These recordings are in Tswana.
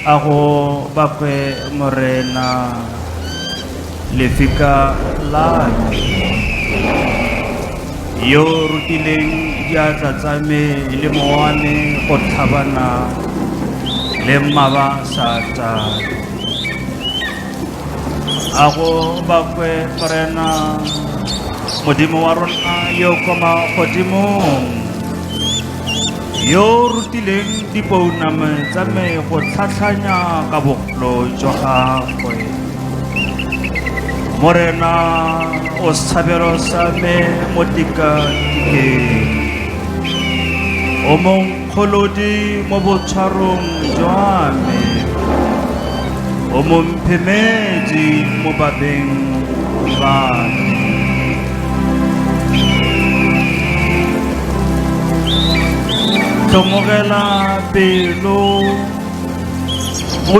a go bakwe morena lefika la yo rutileng diatla tsa me le mowane go tlhabana le mmaba sata a go bakwe morena modimo wa rona yo kwa magodimong yo o rutileng dipouname tsa me go tlhatlhanya ka bogolo jwa gagwe morena o sethabelo sa me mo tikatikeng o mong Kgolodi mo botshwarong jwa me, o mo mphemedi mo babeng ba me. Tlhomogela pelo, o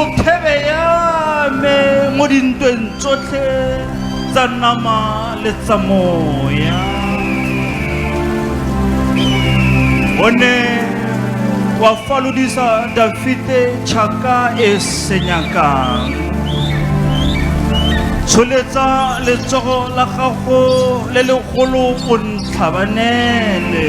o phebe ya me mo dintweng tsotlhe tsa nama le tsa moya o ne wa falodisa dafite tšhaka e senyakang tsholetsa letsogo la gago le legolo o ntlhabanele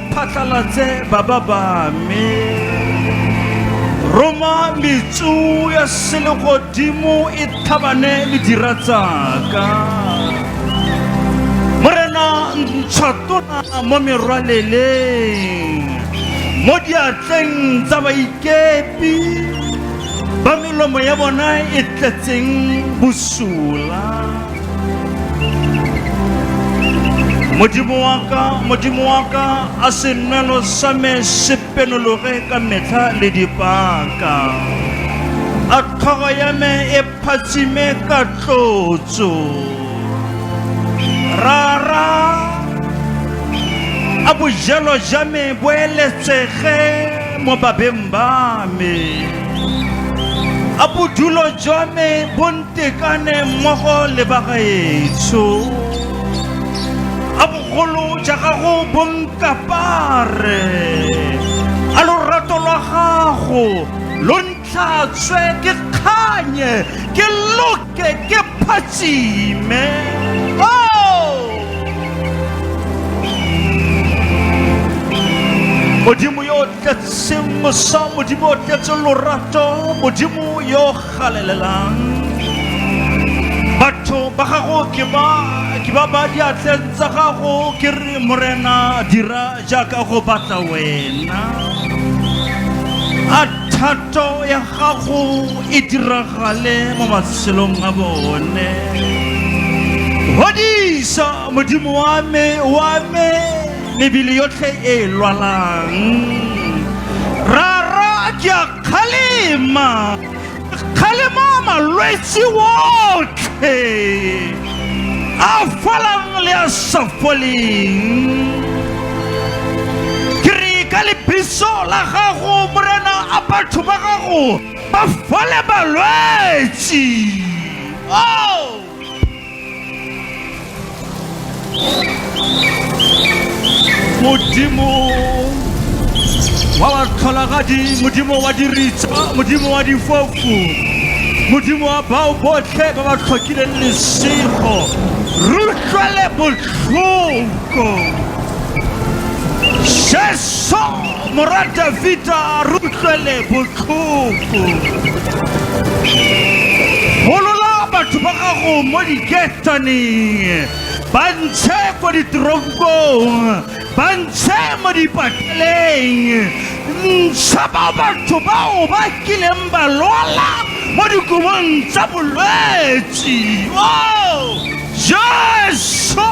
phatlalatse baba ba me roma metsu ya selegodimo e thabane le dira tsaka morena ntšhatona mo merwaleleng mo diatleng tsa baikepi ba melomo ya bona e tletseng bosula modimo wa ka modimo wa ka a senwelo sa me se penologe ka metlha le dipaka a tlhogo ya me e phatsime ka tlotso rara a bojelo ja me bo eletsege mo babeng ba me a bodulo jwa me bo Tekane mmogo le bagaetsho a bogolo ja gago bonkapare a lorato lwa gago lo ntlhatswe ke kganye ke loke ke phatsime modimo yo o tletseng mosa modimo o tletseng lorato modimo yo Galelelang. Batho ba gago ke ba ke ba ba diatleng tsa gago ke re morena dira jaaka go batla wena. A thato ya gago e diragale mo matshelong a bone. Hodisa modimo wa me wa me mebele yotlhe e lwalang. Rara ke a Kgalema! Kgalema malwetse otlhe! A folang le a sa foleng! Ke re ka lebiso la gago morena a batho ba gago ba fole balwetse! Oh! modimo wa batlholagadi modimo wa diritsa modimo wa difofu modimo wa bao botlhe ba ba tlhokileng lesego rutlwele botlhoko jesu Morwa Davida a re utlwele botlhoko. Golola batho ba gago mo diketaneng, ba ntshe ko diteronkong, ba ntshe mo dipateleng. Ntsha ba batho bao ba kileng ba lwala mo dikobong tsa bolwetsi. Oh, Jesu!